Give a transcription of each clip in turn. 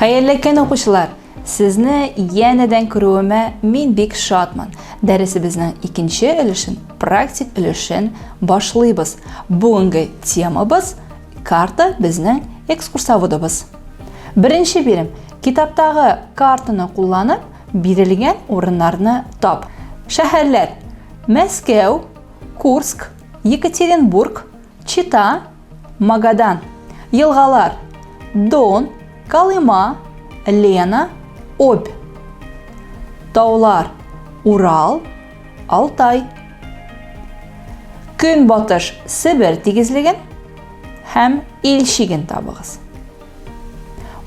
Хәерле көн, укучылар! Сезне янәдән күрүемә мин бик шатмын. Дәресебезнең икенче өлешен, практик өлешен башлыйбыз. Бүгенге темабыз карта безнең экскурсоводыбыз. Беренче бирем. Китаптагы картаны кулланып, Бирелгән урыннарны тап. Шәһәрләр, Мәскәү, Курск, Екатеринбург, Чита, Магадан. Елгалар, Дон, Колыма, Лена, Обь. Таулар, Урал, Алтай. Көнбатыш Себер тигезлеген һәм Ил чиген табыгыз.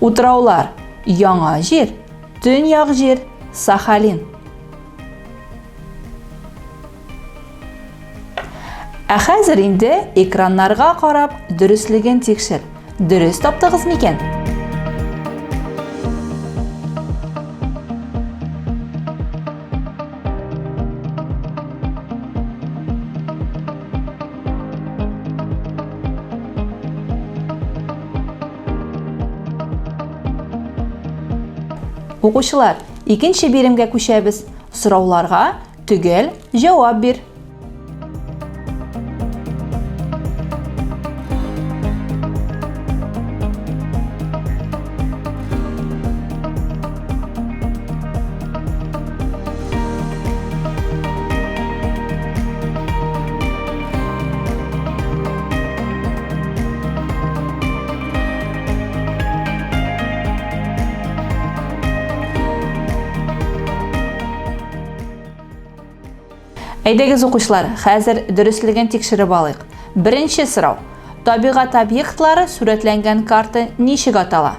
Утраулар, Яңа Җир, Төньяк җир, Сахалин. Ә хәзер инде экраннарга карап дөреслеген тикшер. Дөрес таптыгыз микән? Укучылар, икенче биремгә күчәбез. Сорауларга төгәл җавап бир. Әйдәгез укучылар, хәзер дөреслеген тикшереп алыйк. Беренче сорау. Табигать объектлары сүрәтләнгән карта ничек атала?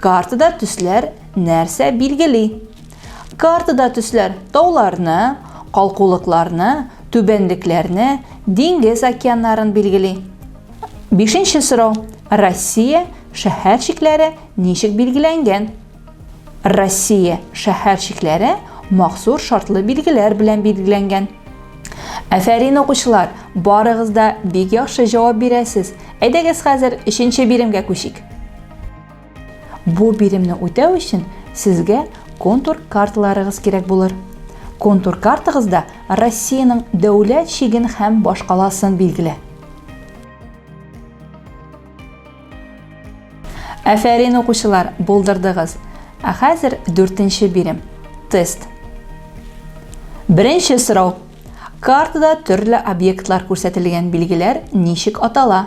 Картада төсләр нәрсә билгели? Картада төсләр тауларны, калкулыкларны, түбәнлекләрне, диңгез океаннарын билгели. Бишенче сорау. Россия шәһәр чикләре ничек билгеләнгән? Россия шәһәр чикләре махсур шартлы билгеләр белән билгеләнгән. Әфәрин укучылар, барыгыз да бик яхшы җавап бирәсез. Әйдәгез хәзер өченче биремгә күчик. Бу биремне үтәү өчен сезгә контур карталарыгыз кирәк булыр. Контур картагызда Россиянең дәүләт чиген һәм башкаласын билгелә. Әфәрин укучылар, булдырдыгыз. Ә хәзер дүртенче бирем. Тест. Беренче сорау. Картада төрле объектлар күрсәтелгән билгеләр ничек атала?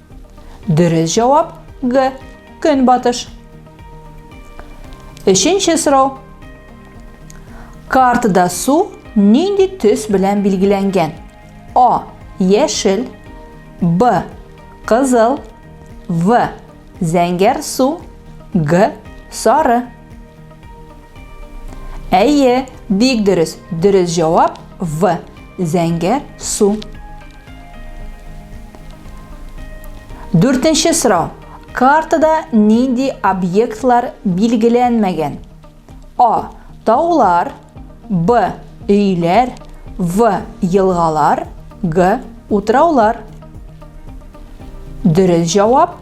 Дөрес җавап Г. Көнбатыш. Өченче сорау. Картада су нинди төс белән билгеләнгән? А. Яшел. Б. Кызыл. В. Зәңгәр су. Г. Сары. Әйе, бик дөрес. Дөрес җавап В. Зәңгәр су. Дүртенче сорау. Картада нинди объектлар билгеләнмәгән? А. Таулар, Б. Өйләр, В. Елгалар, Г. Утраулар. Дөрес җавап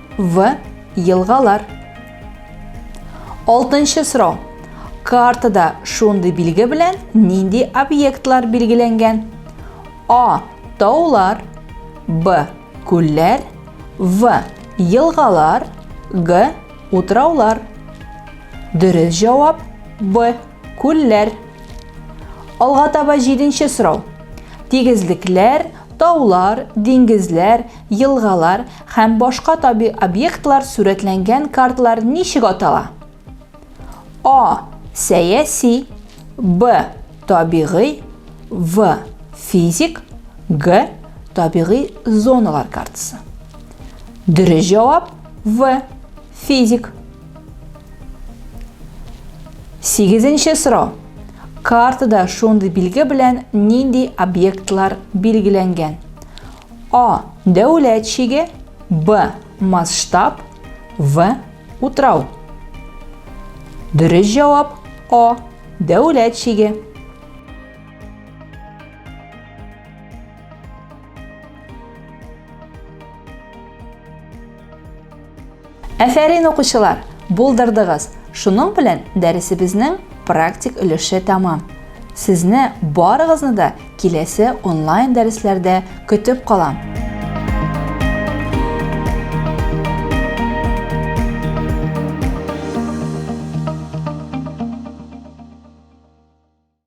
В. Елгалар. Алтынчы сорау. Картада шундый билге белән нинди объектлар билгеләнгән? А. Таулар. Б. Күлләр. В. Елгалар. Г. Утраулар. Дөрес җавап Б. Күлләр. Алга таба җиденче сорау. Тигезлекләр, таулар, диңгезләр, елгалар Һәм башка табигый объектлар сурәтләнгән картлар ничек атала? А. Сәяси Б. Табигый В. Физик Г. Табигый зоналар картасы Дөрес җавап В. Физик Сигезенче сорау. Картада шундый билге белән нинди объектлар билгеләнгән? А. Дәүләт чиге. Б. Масштаб. В. Утрау. Дөрес җавап А. Дәүләт чиге. Әфәрин укучылар, булдырдыгыз. Шуның белән дәресебезнең практик өлеше тәмам. Сезне барыгызны да киләсе онлайн дәресләрдә көтеп калам.